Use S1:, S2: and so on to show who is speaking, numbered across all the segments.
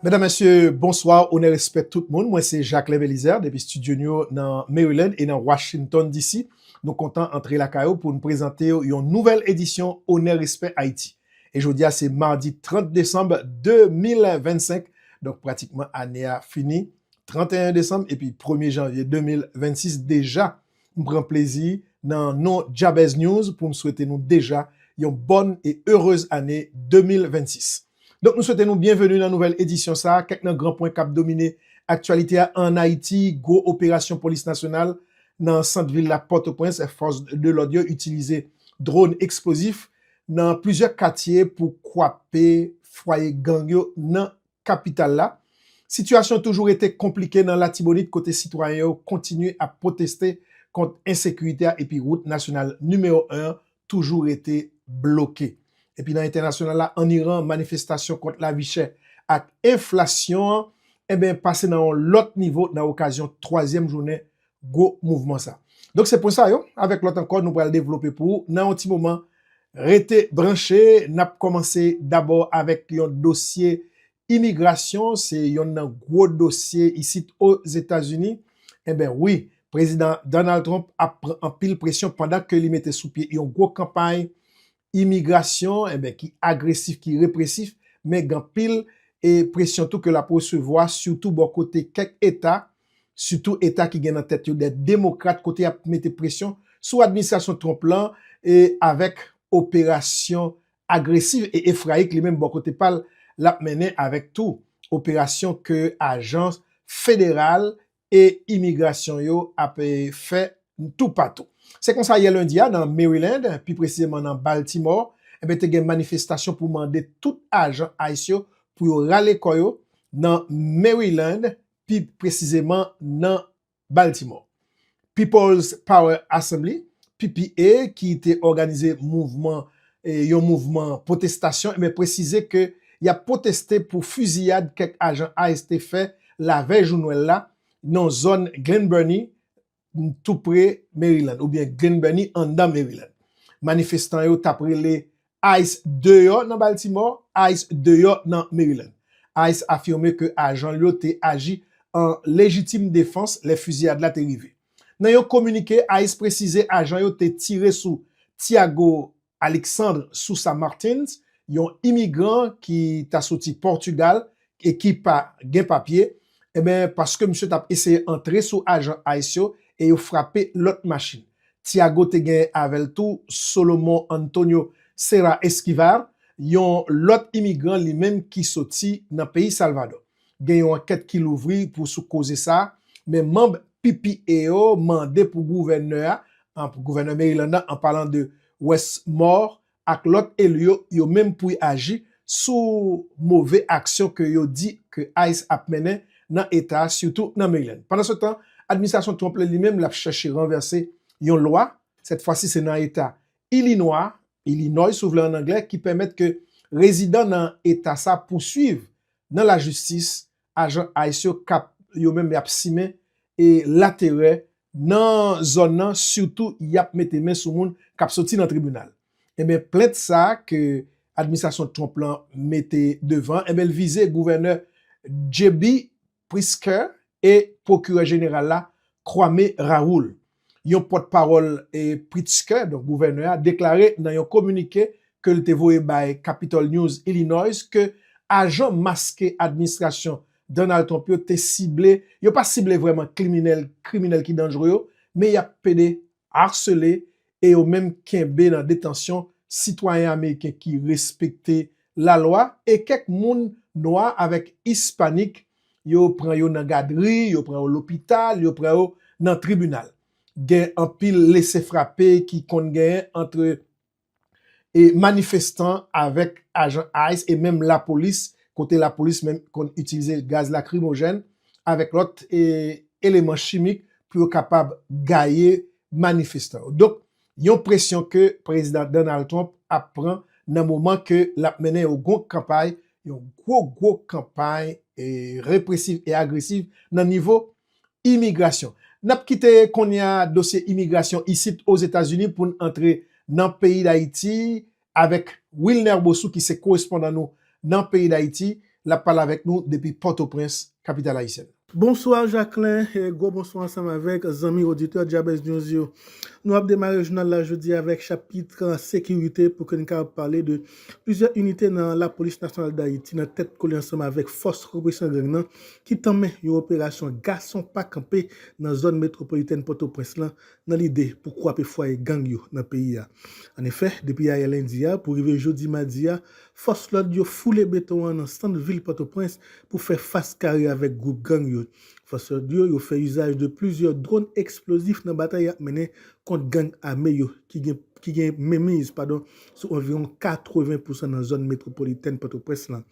S1: Medam mesye bonswa onè respè tout moun mwen se Jaclin Belizaire depi studio nou yo nan Maryland e nan Washington DC nou kontan antre lakay ou poun prezantew yon nouvèl edisyon onè respè Haïti e jodia se mardi 30 desanm 2025 donk pratikman ane a fini 31 desanm epi premye janvye 2026 deja M pran plezi nan non Jabez News pou m swete nou deja yon bòn e erez ane 2026. Donk nou swete nou byenveni nan nouvèl edisyon sa a, kèk nan gran pwen k ap domine aktyalite a an Ayiti, gwo operasyon polis nasyonal nan sant vil la Pòtoprens, fòs de lòd yo itilize dron eksplozif nan plizyè katye pou kwape fwaye gang yo nan kapital la, sitiyasyon toujou rete konplike nan Latibonit kote sitwayen yo kontinye ap pwoteste kont ensekirite a epi wout nasyonal nimewo 1 an toujou rete bloke. Epi nan entènasyonal la, ann Iran, manifestasyon kont lavi chè ak enflasyon an, enben pase nan yon lòt nivo nan okazyon twazyèm jounen gwo mouvman sa. Donk se pwen sa yo avèk lòt ankò nou pral devlope pou ou nan yon ti moman. Rete branche, n ap kòmanse dabò avèk yon dosye imigrasyon, se yonn nan gwo dosye isit Ozetazini. Enben wi, Prezidan Donald Trump ap pran anpil presyon pandan ke li mete sou pye yon gwo kanpay imigrasyon enben ki agresif, ki represif men gen anpil e presyon tou ke l ap resevwa sitou bò kote kèk eta sitou eta ki gen nan tèt yo dè demokrat kote y ap mete presyon sou administrasyon Trump lan e avèk operasyon agresiv e efrayik li menm bò kote pa l l ap mennen avèk tou operasyon ke ajans federal e imigrasyon yo ap fè toupatou. Se konsa yè lendi a nan Maryland, pi presizeman nan Baltimore, enben te gen manifestasyon pou mande tout ajan ice yo pou yo rale kò yo nan Maryland, pi presizeman nan Baltimore. People's Power Assembly, PPA, ki te òganize mouvman yon mouvman pwotestasyon e presize ke y ap pwoteste pou fiziyad kèk ajan ice te fè lavèy jou nwèl la nan zòn Glen Burnie tou pre Maryland oubyen Glen Burnie anndan Maryland. Manifestan yo t ap rele ice deyò nan Baltimore, ice deyò nan Maryland. Ice afime ke ajan l yo te aji an lejitim defans lè fiziyad la te rive. Nan yon kominike, ice presize ajan yo te tire sou Tiago Alexandre Sousa Martins, yon imigran ki ta soti Pòtugal e ki pa gen papye, paske misye tap eseye antre sou ajan ice yo e yo frape lòt machin. Tiago te gen avè l tou Solomon Antonio Cera Esquivar, yon lòt imigran li menm ki soti nan peyi Salvador. Gen yon ankèt ki louvri pou sou koze sa, men manb PPA yo mande pou gouvènè a, gouvènè Maryland nan an palan de Wes Moore ak lòt eli yo, yo menm pou y aji sou move aksyon ke yo di ke ice ap mennen nan eta a sitou nan Maryland. Pandansetan, administrasyon Trump la li menm l ap chèche ranvèse yon lwa, sèt fwa si se nan eta Ilinwa, Illinois si w vle an anglè, ki pèmèt ke rezidan nan eta sa pousuiv nan lajistis, ajan ice yo kap yo menm yap simen e laterè nan zòn nan sitou yap mete men sou moun kap soti nan tribinal. Enben plent sa ke administrasyon Trump lan mete devan enben l vize gouvènè JB Pritzker e pwokirè jeneral la Kwame Raoul. Yon pòtpawòl Pritzker, donk gouvènè a, deklare nan yon kominike ke l te voye bay Capitol News Illinois ke ajan maske administrasyon Donald Trump yo te sible, yo pa sible vrèman kliminèl, kriminèl ki danjre yo, men y ap pede, arsele, e yo menm kenbe nan detansyon sitwayen ameriken ki respekte lalwa e kèk moun nwa avèk ispanik yo pran yo nan gadri, yo pran yo lopital, yo pran yo nan tribinal. Gen anpil lese frape ki konn genyen antre manifestan avèk ajan ice e menm lapolis, kote lapolis menm konn itilize gaz lakrimojèn avèk lòt eleman chimik pou yo kapab gaye manifestan yo. Donk, Yon presyon ke Prezidan Donald Trump ap pran nan moman ke lap mennen yon gwo kanpay, yon gwo gwo kanpay represiv e agresiv nan nivo imigrasyon. Nap kite kounye a dosye imigrasyon isit Ozetazini poun antre nan peyi Dayiti Avèk Wilner Bossou ki se korespondan nou nan peyi Dayiti, l ap pale avèk nou depi Pòtoprens, kapital ayisyèn nan. Bonswa Jacquelin
S2: e gwo bonswa ansanm avèk zanmi oditè Jabez News yo. Nou ap demare jounal la jodi a avèk chapitr sekirite pou ke n kapab pale de plizyè inite nan lapolis nasyonal Dayiti nan tèt kole ansanm avèk fòs represyon gang nan ki tanmen yon operasyon gason pa kanpe nan zòn metwopolitèn Pòtoprens lan nan lide pou kwape fwaye gang yo nan peyi a. An efè, depi ayè lendi a pou rive jodi madi a, fòs lòd yo foule beton an nan sant vil Pòtoprens pou fè fas kare avèk gwoup gang yo. Fòs lòd yo yo fè izaj de plizyè dwòn eksplozif nan batay y ap mennen kont gang ame yo ki gen ki gen menmiz padon sou anviwon 80 pousan nan zòn metwopolitèn Pòtoprens lan.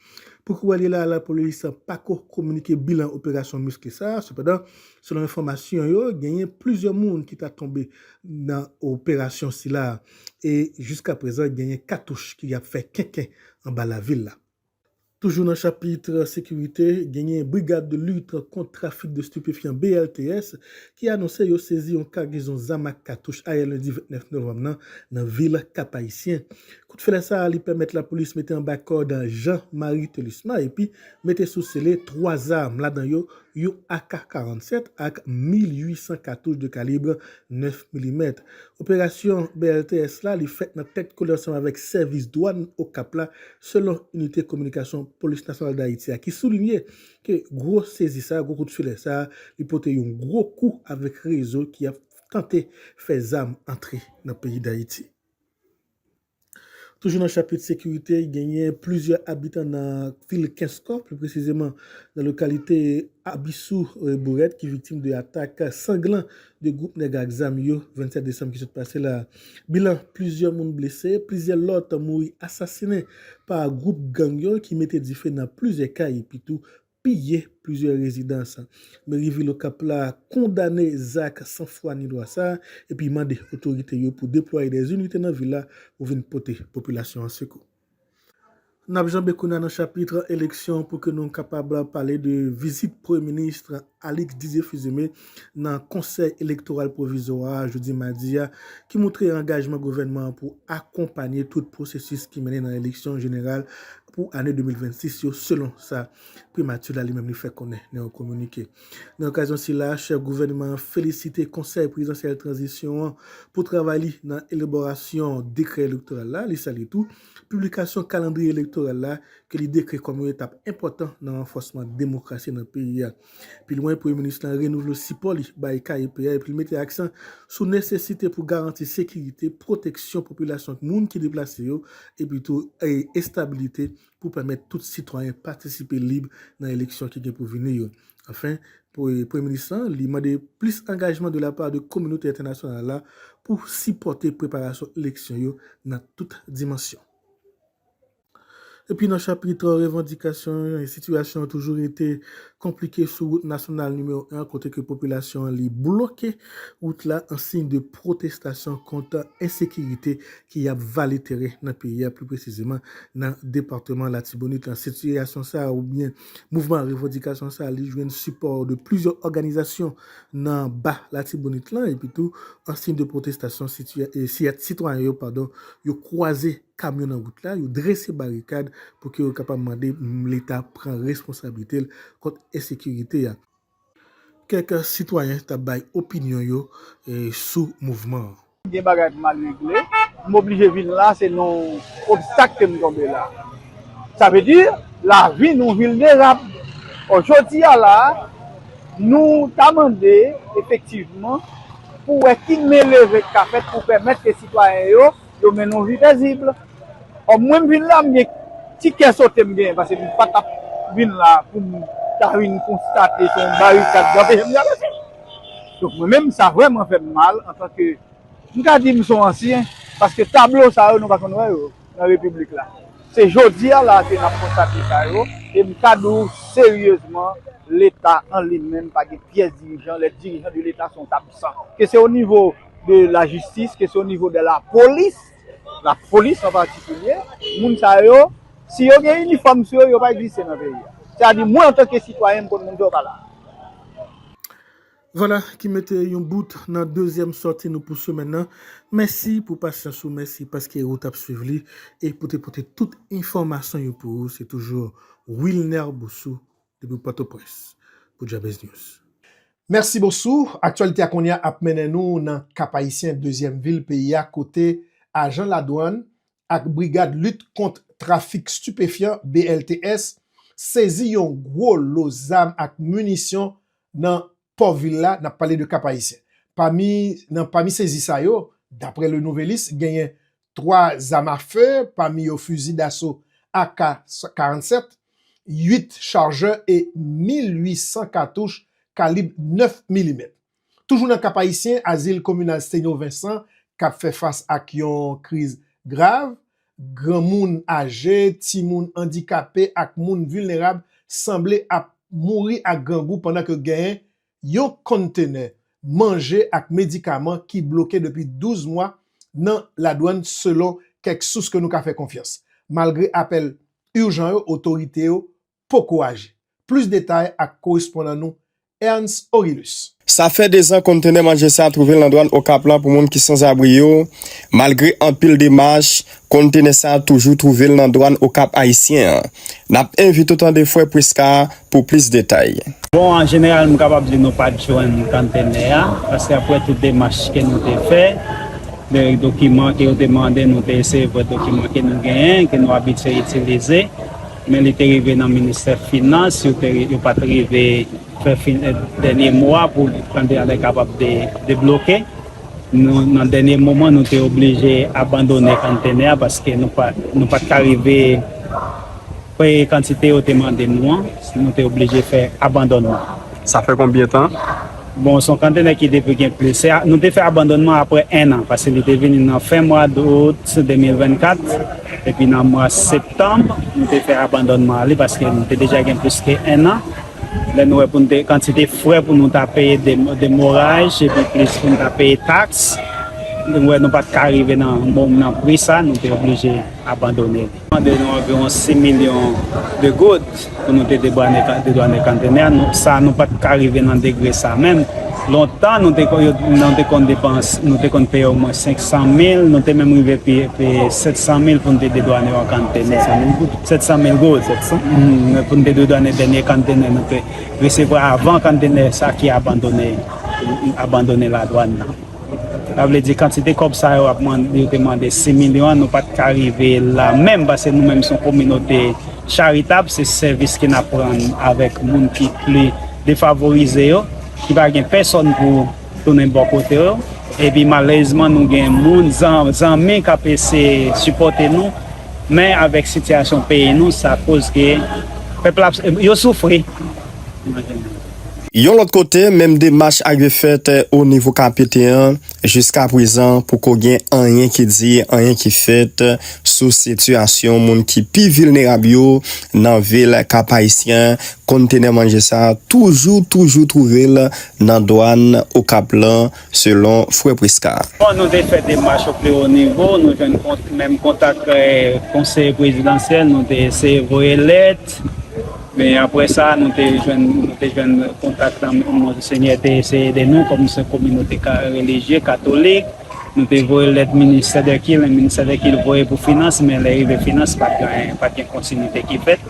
S2: Pouki wè li la lapolis pako kominike bilan operasyon miske sa, sepandan selon enfòmasyon yo genyen plizyè moun ki ta tonbe nan operasyon sila e jiska prezan genyen katouch ki ap fè kenken anba lavil la. Toujou nan chapit sekirite, genyen Brigad de Lutte Contre Trafic de Stupéfiants, BLTS, ki anonse yo sezi yon kagezon zam ak katouch ayè lendi 29 novanm nan nan vil Kap-Ayisyen. Kout flè sa a li pèmèt lapolis mete anba kòd Jean Marie Thelusma epi mete sou sele 3 zam, ladan yo yon ak 47 ak 1800 katouch de kalibre 9 milimèt. Operasyon BLTS la li fèt nan tèt kole ansanm avèk sèvis dwàn Okap la, selon inite kominikasyon Polis Nasyonal Dayiti a ki soulinye ke gwo sezi sa a, gwo kout filè sa a li pote yon gwo kou avèk rezo ki ap tante fè zam antre nan peyi Dayiti. Toujou nan chapit sekirite, genyen plizyè abitan nan vil Kenskò, pli presizeman nan lokalite Abisou Bourèt ki viktim de atak sanglan de gwoup nèg ak zam yo 27 desanm ki sot pase la. Bilan, plizyè moun blese, plizyè lòt mouri asasinen pa gwoup gang yo ki mete dife nan plizyè kay epitou piye plizyè rezidans Meri vil Okap la kondane zak san fwa ni lwa sa epi mande otorite yo pou deplwaye dè inite nan vil la pou vin pote popilasyon an sekou. N ap janbe kounye a nan chapit eleksyon pou ke nou kapab pale de vizit premye minis Alix Didier Fils-Aimé nan konsèy elektoral pwovizwa a jodi madi a ki moutre angajman gouvènman an pou akonpanye tout pwosesis ki mennen nan eleksyon jeneral pou ane 2026 yo selon sa Primati la li menm li fè konnen nan yon kominike. Nan okazyon sila a, chèf gouvènman an felisite Konsèy Prezidansyèl Tranzisyon an pou travay li nan elaborasyon dekrè elektoral la, li salye tou piblikasyon kalandriye elektoral la ke li dekri kòm yon etap enpòtan nan ranfòsman demokrasi nan peyi a. Pi lwen, Premye Minis lan renouvle sipò li bay KEP a epi li mete aksan sou nesesite pou garanti sekirite, pwoteksyon popilasyon ak moun ki deplase yo epi tou estabilite pou pèmèt tout sitwayen patisipe lib nan eleksyon ki gen pou vini yo. Anfen, Premye Minis lan li mande plis angajman de la pa de kominote entènasyonal la pou sipòte preparasyon eleksyon yo nan tout dimansyon. Epi nan chapit revandikasyon yo, sitiyasyon an toujou rete konplike sou wout nasyonal nimewo 1 kote ke popilasyon an li bloke wout la an siy de pwotestasyon kont ensekirite ki ap vale teren nan peyi a pli presizeman nan departeman Latibonit la. Sitiyasyon sa a oubyen mouvman revandikasyon sa a li jwenn sipò de plizyè òganizasyon nan ba Latibonit lan epi tou an siy de pwotestasyon siyat sitwayen yo padon yo kwaze kamyon nan wout la, yo drese barikad pou ke yo kapab mande leta pran responsablite l kont ensekirite a. Kèk sitwayen t ap bay opinyon yo sou mouvman an. Gen bagay pou m al
S3: regle. M oblije vin la, se nan yon obstak ke m tonbe la. Sa vle di, lavi nou vilnerab. Or jodi a la a, nou ta mande efektivman pou wè ki men leve ki ka fèt pou pèmèt ke sitwayen yo Yo mennen yon vi pezibl. Kòm mwen m vin la m gen ti kè sote m genyen pase m pa tap vin la pou m ta vin konstate se yon barikad ki anpeche m travèse. Donk mwen menm sa vrèman fè m mal antanke m ka di m son ansyen paske tablo sa yo nou pa konn wè yo nan repiblik la. Se jodi a la ke n ap konstate sa yo e m ka di w seryezman leta an li menm pa gen pyès dirijan lè dirijan de leta son absan ke se o nivo de la jistis, ke se o nivo de la polis, la polis an patikilye, moun sa yo, si yo gen inifòm sou yo, yo pa egziste nan peyi a. Sa di mwen antanke sitwayen m konn moun sa yo pa la. Vwala
S2: ki mete yon bout nan dezyèm sòti nou pou semèn nan. Mèsi pou pasyans ou, mèsi paske ou t ap swiv li e pou te pote tout enfòmasyon yo pou ou. Se toujou Wilner Boussou Depi Pòtoprens pou Jabez News. Mèsi Bosou.
S1: Aktyalite a kounye a ap mennen nou nan Kap-Ayisyen, dezyèm vil peyi a kote ajan ladwann ak Brigad Lit Kont Trafik Stipefyan, BLTS, sezi yon gwo lo zam ak minisyon nan pò vil la, n ap pale de Kap-Ayisyen. Pami nan pami sezi sa yo, daprè Le Nouvelliste, genyen 3 zam a fe, pami yo fizi daso ak 47, 8 charjè e 1,800 katouch kalib 9 milimèt. Toujou nan Kap-Ayisyen, Azil Kominal Sténio Vincent k ap fè fas ak yon kriz grav. Granmoun aje, timoun, andikape ak moun vilnerab sanble ap mouri ak grangou pandan ke gen yon konntenè manje ak medikaman ki bloke depi 12 mwa nan ladwann selon kèk sous ke nou ka fè konfyans. Malgre apèl urjan yo otorite yo poko aji. Plis detay ak korespondan nou Ernst Orilus. Sa fè 2 zan
S4: konntenè manje sa twouve nan dwann Okap la pou moun ki sanzabri yo, malgre anpil demach Kontenè sa toujou twouve l nan dwàn Okap Ayisyen an. N ap envite w tande Frè Prisca pou plis detay. Bon, an jeneral
S5: m kapab di nou pa t jwenn konntenè a, paske aprè tout demach ke nou te fè, dokiman ke yo te mande nou te eseye voye dokiman ke nou genyen, ke nou abitye itilize, men li te rive nan ministè finans, yo te yo pa t rive fè dènye mo a pou konntenè kapab debloke. Nan dènye moman nou te oblije abandone kanntenè a paske nou pa t ka rive peye kantite yo te mande nou an. Nou te oblije fè abandònman. Sa fè konbyen
S4: tan? Bon, se yon
S5: kanntenè ki depi gen plis. Nou te fè abandònman apre ennan paske li te vini nan fen mwa dout 2024. Epi nan mwa septanm nou te fè abandònman li paske li te deja gen plis ke ennan. Lè nou wè pou nou te kantite frè pou nou ta peye de moraj epi plis pou nou ta peye taks, nou wè nou pat ka rive nan bonm nan pri sa, nou te oblije abandone li. Mande nou anviwon 6 milyon de goud pou nou te dedwane kantenè a, sa nou pat ka rive nan degre sa menm. Lontan nou te konn depans, nou te konn peye omwen 500 mil, nou te menm rive peye 700 mil pou nou te dedwane yon kantenè. 700 mil gold, 700 mil, pou nou te dwe donnen dènye konntenè nou te resevwa avan konntenè sa ki abandone ladwann nan. Sa vle di kantite kòb sa yo te mande 6 milyon an, nou pa t ka rive la menm pase nou menm se yon kominote charitab, se sèvis ke n ap rann avèk moun ki pli defavorize yo, ki pa gen pèsonn pou. Tounen bò kote w. Epi malèrezman nou gen moun, zanmi k ap eseye sipòte nou, men avèk sitiyasyon peyi nou sa koz ke pèp la yo soufri.
S4: Yon lòt kote, menm demach ak yo fèt o nivo KPT an, jiska prezan poko gen anyen ki di, anyen ki fèt sou sitiyasyon moun ki pi vilnerab yo nan vil Kap Ayisyen. Kontenè manje sa toujou toujou twouve l nan dwann Okap lan, selon frè Prisca. Bon nou te fè
S5: demach o pi o nivo, nou jwenn menm kontak konseye prezidansyèl, nou te eseye voye lèt, men aprè sa nou te jwenn kontak nan monsenyè te eseye ede nou kòm se kominote relijye katolik, nou te voye lèt ministè dè kilti, ministè dè kilti voye pou finans men lè rive finans pa t gen pa t gen kontinite ki fèt,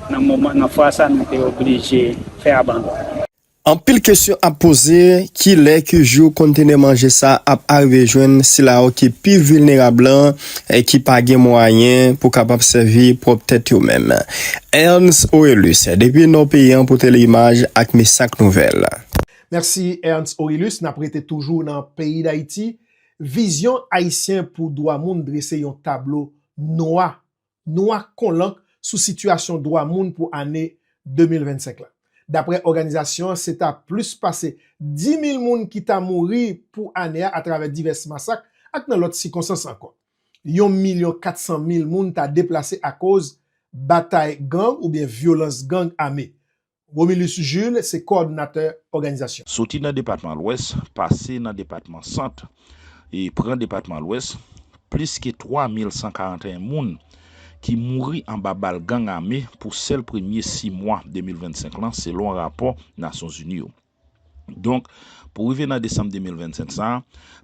S5: nan fwa sa nou te oblije fè abandon. Anpil
S4: kesyon ap poze, kilè, ki jou kontenè manje sa ap arive jwenn sila yo ki pi vilnerab lan e ki pa gen mwayen pou kapab sèvi pwòp tèt yo menm? Ernst Orelus, depi nò peyi an pou Tele-Imaj ak Misak Nouvèl. Mèsi
S1: Ernst Orelus, nap rete toujou nan peyi Dayiti, Vizyon Ayisyen pou Dwa Moun drese yon tablo nwa nwa kon lank sou sitiyasyon dwa moun pou ane 2025 la. Daprè òganizasyon an se ta plis pase 10 mil moun ki ta mouri pou ane a atravè divès masak ak nan lòt sikonsans ankò. Yon milyon 400 mil moun ta deplase akoz batay gang oubyen vyolans gang ame, Romilus Jules se kòòdonatè òganizasyon. Soti nan depatman
S6: Lwès, pase nan depatman Sant e pran depatman Lwès, plis ke 3141 moun ki mouri anba bal gang ame pou sèl premye 6 mwa 2025 lan selon rapò Nasyonzini yo. Donk, pou rive nan desanm 2025 sa,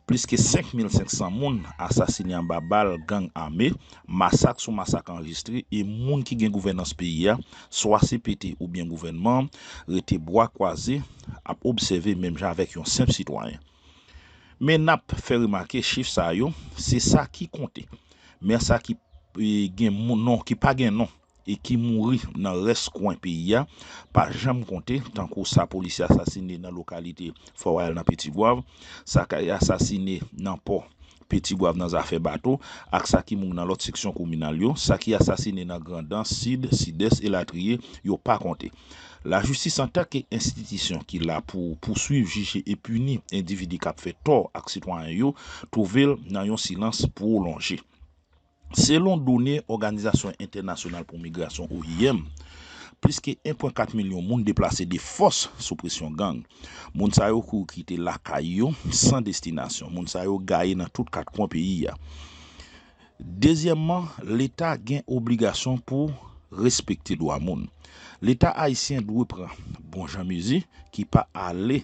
S6: plis ke 5 mil 500 moun asasine anba bal gang ame, masak sou masak anrejistre e moun ki gen gouvènans peyi a, swa cpt oubyen gouvènman an, rete bwa kwaze ap obsève menm jan avèk yon senp sitwayen. Men n ap fè remake chif sa yo, se sa ki konte. Men sa ki gen non, ki pa gen non. e ki mouri nan rès kwen peyi a pa janm konte tankou sa polisye asasine nan lokalite Fò Wayal nan Petit-Goâve, sa ki asasine nan pò Petit-Goâve nan zafè bato ak sa ki mouri nan lòt seksyon kominal yo, sa ki asasine nan Grandans, Sid, Sidès elatriye, yo pa konte. Lajistis antanke enstitisyon ki la pou pouswiv, jije e pini endividi k ap fè tò ak sitwayen yo, twouve l nan yon silans pwolonje. Selon done Òganizasyon Entènasyonal pou Migrasyon, oim, plis ke 1 pwen 4 milyon moun deplase de fòs sou presyon gang. Moun sa yo kouri kite lakay yo san destinasyon. Moun sa yo gaye nan tout kat kwen peyi a. Dezyèmman, Leta gen obligasyon pou respekte dwa moun. Leta ayisyen dwe pran bon jan mezi ki pa ale.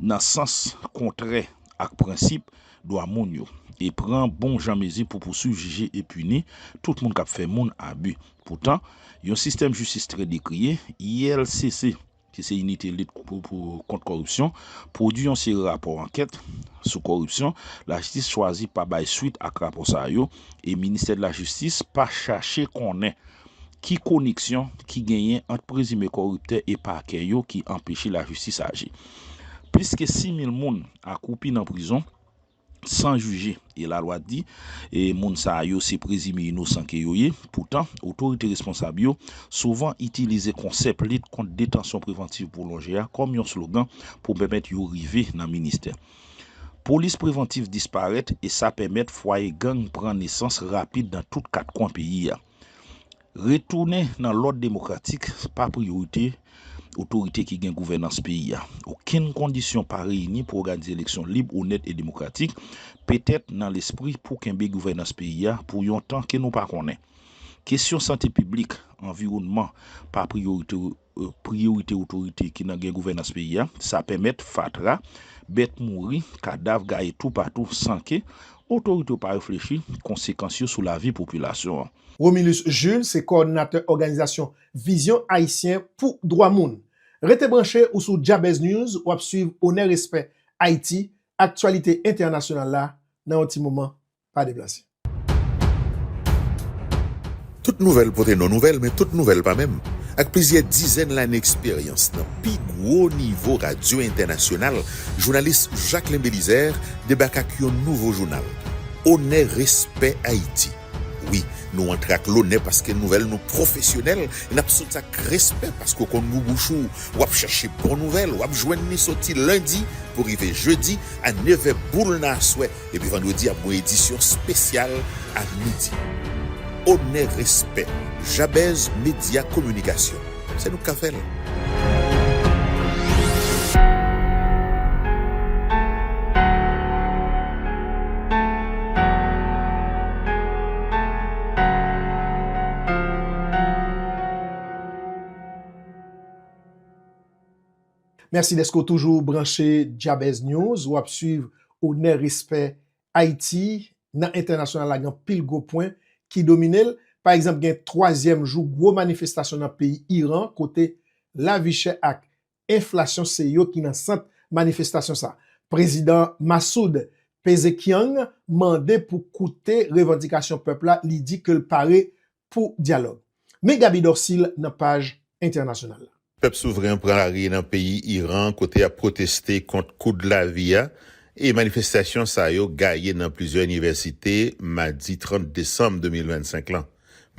S6: nan sans kontrè ak prensip dwa moun yo e pran bon jan mezi pou pouswiv, jije e pini tout moun k ap fè moun abi. Poutan, yon sistèm jistis trè dekriye, ILCC, ki se Inite Lit Kont Kòripsyon, pwodui yon seri rapò ankèt sou kòripsyon, lajistis chwazi pa bay swit ak rapò sa yo e Ministè de la Jistis pa chache konnen. Ki koneksyon ki genyen ant prezime koriptè e pakè yo ki anpeche lajistis aji? Plis ke 6 mil moun akwoupi nan prizon, san jije, e lalwa di moun sa yo se prezime inosan ke yo ye. Poutan, otorite responsab yo souvan itilize konsèp lit kont detansyon prevantiv pwolonje a kòm yon slogan pou pèmèt yo rive nan ministè. Polis prevantiv disparèt e sa pèmèt fwaye gang pran nesans rapid nan tout kat kwen peyi a. Retounen nan lòd demokratik pa priyorite otorite ki gen gouvènans peyi a. Okenn kondisyon pa reyini pou òganize eleksyon lib, onèt e demokratik, petèt nan lespri pou kenbe gouvènans peyi a pou yon tan ke nou pa konnen. Kesyon sante piblik, anviwònman pa priyorite priyorite otorite ki nan gen gouvènans peyi a, sa pèmèt fatra, bèt mouri, kadav gaye toupatou san ke otorite yo pa reflechi konsekans yo sou lavi popilasyon an. Romilus Jules
S1: se kòòdinatè òganizasyon Vizyon Ayisyen pou Dwa Moun. Rete branche ou sou Jabez News wap swiv onè respè Ayiti, aktyalite entènasyonal la nan yon ti moman pa deplase.
S7: Tout nouvèl pote non nouvèl, men tout nouvèl pa menm. Ak plizyè dizèn lane eksperyans nan pi gwo nivo radyo entènasyonal, jounalis Jacquelin Belizaire debake ak yon nouvo jounal, Onè Respè Ayiti. Wi, nou antre ak lonè paske nouvèl nou pwofesyonèl e n ap sot ak respè paske w konn gou bouch ou, w ap chache bon nouvèl, w ap jwenn li soti lendi pou rive jedi a nevè boul nan aswè. Epi vandredi ap gon edisyon spesyal a midi. Onè respè Jabez media kominikasyon se nou k ka fè l.
S1: Mèsi dèske w toujou branche Djabèz News, w ap suiv Onè Respè Ayiti nan entènasyonal la gen anpil gwo pwen ki domine l. Pa egzanp gen twazyèm jou gwo manifestasyon nan peyi Iran kote lavichè ak enflasyon se yo ki nan sant manifestasyon sa. Prezidan Massoud Pezekhiang mande pou koute revandikasyon pèp la, li di ke l pare pou dyalòg. Men Gaby Dorcil nan paj entènasyonal la. Pèp souvren
S7: pran lari nan peyi Iran kote yap pwoteste kont koud lavi a e manifestasyon sa yo gaye nan plizyè inivèsite madi 30 desanm 2025 lan.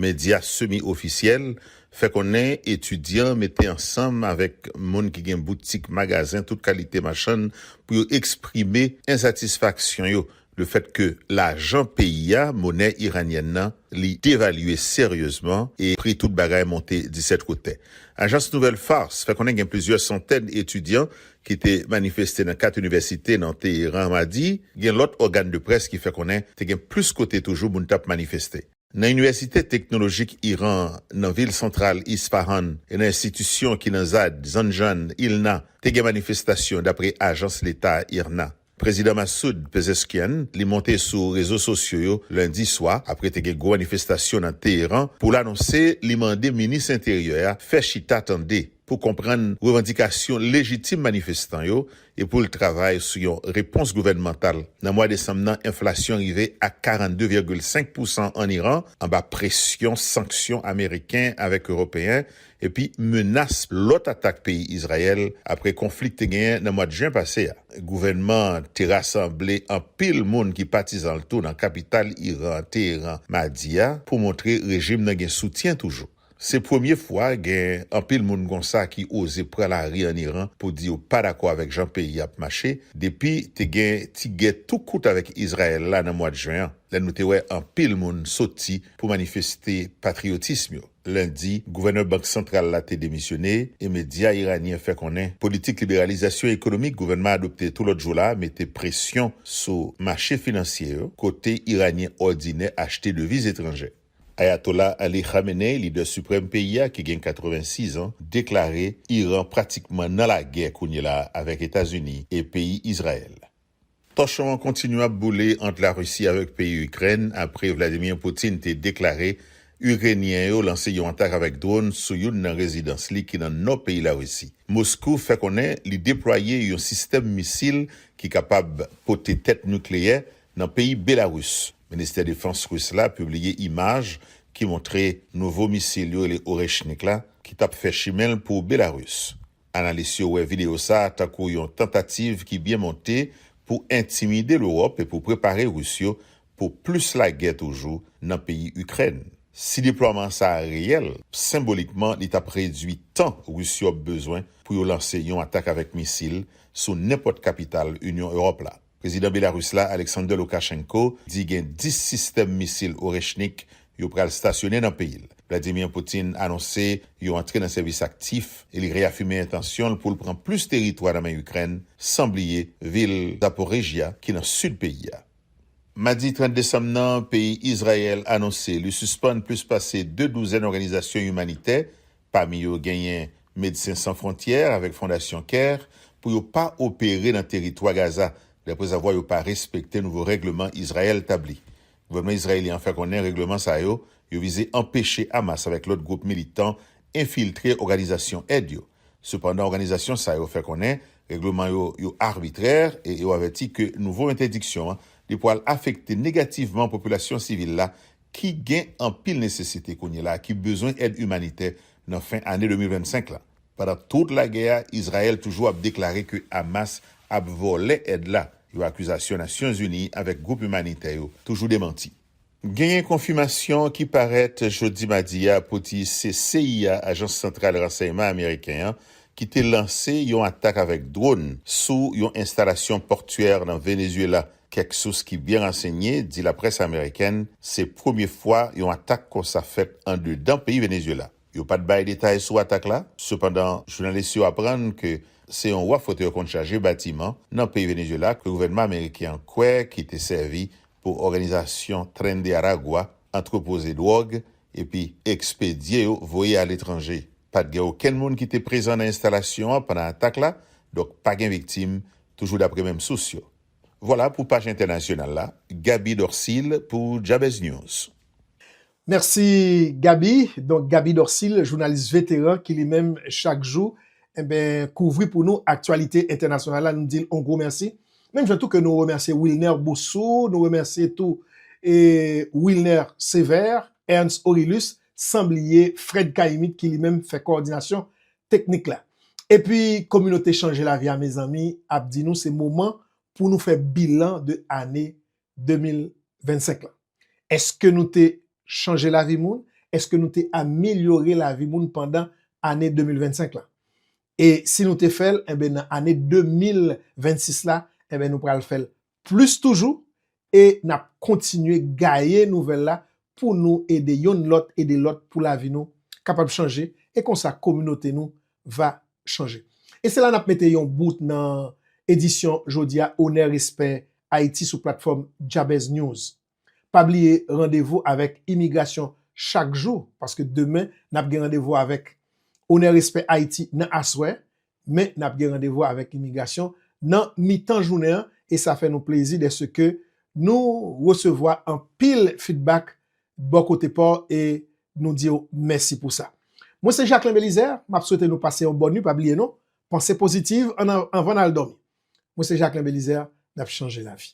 S7: Medya semi ofisyèl fè konnen etidyan mete ansanm avèk moun ki gen boutik, magazen tout kalite machann pou yo eksprime ensatisfaksyon yo Le fèt ke lajan peyi a, monè iranyèn nan, li devalye seryezman e pri tout bagay monte disèt kotè. Ajans nouvèl Fars fè konnen gen plizyè santèn etidyan ki te manifeste nan kat inivèsite nan Teheran madi, gen lòt ògàn de près ki fè konnen te gen plis kote toujou moun t ap manifeste. Nan Inivèsite Teknolojik Iran an nan vil santral Isfahan e nan enstitisyon ki nan Zad, Zanjan, Ilna, te gen manifestasyon, dapre ajans leta IRNA. Prezidan Massoud Pezeshkian li monte sou rezo sosyo yo lendi swa apre te gen gwo manifestasyon nan Teheran pou l anonse li mande minis enteryè a fè chita tande pou konprann revandikasyon lejitim manifestan yo e pou l travay sou yon repons gouvènmantal nan mwa desanm nan enflasyon rive a 42 vègil 5 pousan ann Iran anba presyon sanksyon ameriken avèk ewopeyen epi menas lòt atak peyi Izrayèl apre konfli k te genyen nan mwad jen pase a. Gouvènman an te rasanble anpil moun ki patizan l tou nan kapital Iran an, Teheran, madi a pou montre rejim nan gen soutyen toujou. Se premye fwa gen anpil moun konsa ki oze pran lari an Iran pou di yo pa dakò avèk jan peyi a ap mache depi te gen ti gè tou kout avèk Izrayèl la nan mwad jen an, lè nou te wè anpil moun soti pou manifeste patriyotism yo. Lendi, gouvènè Bank Santral la te demisyone e medya iranyen fè konnen politik liberalizasyon ekonomik gouvènman adopte tou lòt jou la mete presyon sou mache finansye yo kote iranyen òdinè achte deviz etranjè. Ayatola Ali Khamenei, lidè siprèm peyi a ki gen 86 an, deklare Iran pratikman nan lagè kounyela a avèk Etazini e peyi Izrayèl. Tòchon an kontinye ap boule ant Larisi avèk peyi Ikrèn apre Vladimir Putin te deklare Irenyen yo lanse yon atak avèk dron sou youn nan rezidans li ki nan nò peyi Larisi. Moskou fè konnen li deplwaye yon sistèm misil ki kapab pote tèt nikleyè nan peyi Belarus. Ministè Defans Ris la pibliye imaj ki montre nouvo misil yo rele Oreshnik la ki tap fè chimen l pou Belarus. Analis yo wè videyo sa a tankou yon tantativ ki byen monte pou entimide Lewòp e pou prepare Ris yo pou plis lagè toujou nan peyi Ikrèn. Si deplwaman sa a reyèl, senbolikman li t ap redui tan Ris yo ap bezwen pou yo lanse yon atak avèk misil sou nenpòt kapital Inyon Ewòp la. Prezidan Belarus la, Alexander Lukashenko, di gen 10 sistèm misil Oreshnik yo pral stasyone nan peyi l. Vladimir Putin anonse yo antre nan sèvis aktif e li reyafime entansyon l pou l pran plis teritwa nan men Ikrèn, san bliye vil Zaporizhzhia ki nan sid peyi a. Madi 30 desanm nan, peyi Izrayèl anonse li sispann plis pase 2 douzèn òganizasyon imanitè Pami yo genyen Medsen San Fwontyè avèk Fondasyon Care pou yo pa opere nan teritwa Gaza deprezavwa yo pa respekte nouvo règleman Izrayèl tabli. Gouvènman Izrayelyen an fè konnen règleman sa yo yo vize anpeche Hamas avèk lòt gwoup militan enfiltre òganizasyon èd yo. Sepandan òganizasyon sa yo fè konnen règleman yo yo arbitrè e yo avèti ke nouvo entèdiksyon an li pwal afekte negativman popilasyon sivil la ki gen anpil nesesite kounyela a ki bezwen èd imanitè nan fen ane 2025 la. Pandan tout lagè a, Izrayèl toujou ap deklare ke Hamas ap vòlè èd la, yon akizasyon Nasyonzini avèk gwoup imanitè yo toujou demanti. Genyen konfimasyon ki parèt jodi madi a pou di se CIA, Ajans Santral Ransèyman Ameriken an, ki te lanse yon atak avèk dronn sou yon enstalasyon pòtyè nan Venezuela Kèk sous ki byen ransenye di laprès amerikèn se premye fwa yon atak konsa fèt andedan peyi Venezyela. Yo pat bay detay sou atak la, sepandan jounalis yo aprann ke se yon waf otè konn chaje batiman nan peyi Venezyela ke gouvènman ameriken an kwè ki te sèvi pou òganizasyon Tren de Aragua antrepoze dwòg epi ekspedye yo voye aletranje. Pat gen okenn moun ki te prezan nan enstalasyon an pandan atak la, donk pa gen viktim, toujou dapre menm sous yo. Vwala pou paj entènasyonal la, Gaby Dorcil pou Jabez News. Mèsi
S1: Gaby, donk Gaby Dorcil jounalis veteran ki li menm chak jou enben kouvri pou nou aktyalite entènasyonal la nou di l on gwo mèsi, menm jan tou ke nou remèsye Wilner Boussou, nou remèsye tou Wilner Sévère, Ernst Orilus san bliye Fred Caïmit ki li menm fè kowòdinasyon Teknik la. Epi kominote chanje lavi a mezanmi ap di nou se moman pou nou fè bilan de ane 2025 lan. Eske nou te chanje lavi moun? Eske nou te amilyore lavi moun pandan ane 2025 lan? E si nou te fè l, enben nan ane 2026 la, enben nou pral fè l Plis toujou, e n ap kontinye gaye nouvèl la pou nou ede yonn lòt ede lòt pou lavi nou kapab chanje e konsa kominote nou va chanje. E se la n ap mete yon bout nan edisyon jodi a Onè Respè Ayiti sou platfòm Jabez News. Pa bliye randevou avèk imigrasyon chak jou paske demen n ap gen randevou avèk Onè Respè Ayiti nan aswè men n ap gen randevou avèk imigrasyon nan mitan jounen an e sa fè nou plezi dèseke nou resevwa anpil fidbak bò kote pa w e nou di w mèsi pou sa. Mwen se Jacquelin Belizaire, m ap swete nou pase yon bòn nwi pa bliye non panse pozitiv anvan n al dòmi. Mwen se Jacquelin Belizaire, n ap chanje lavi.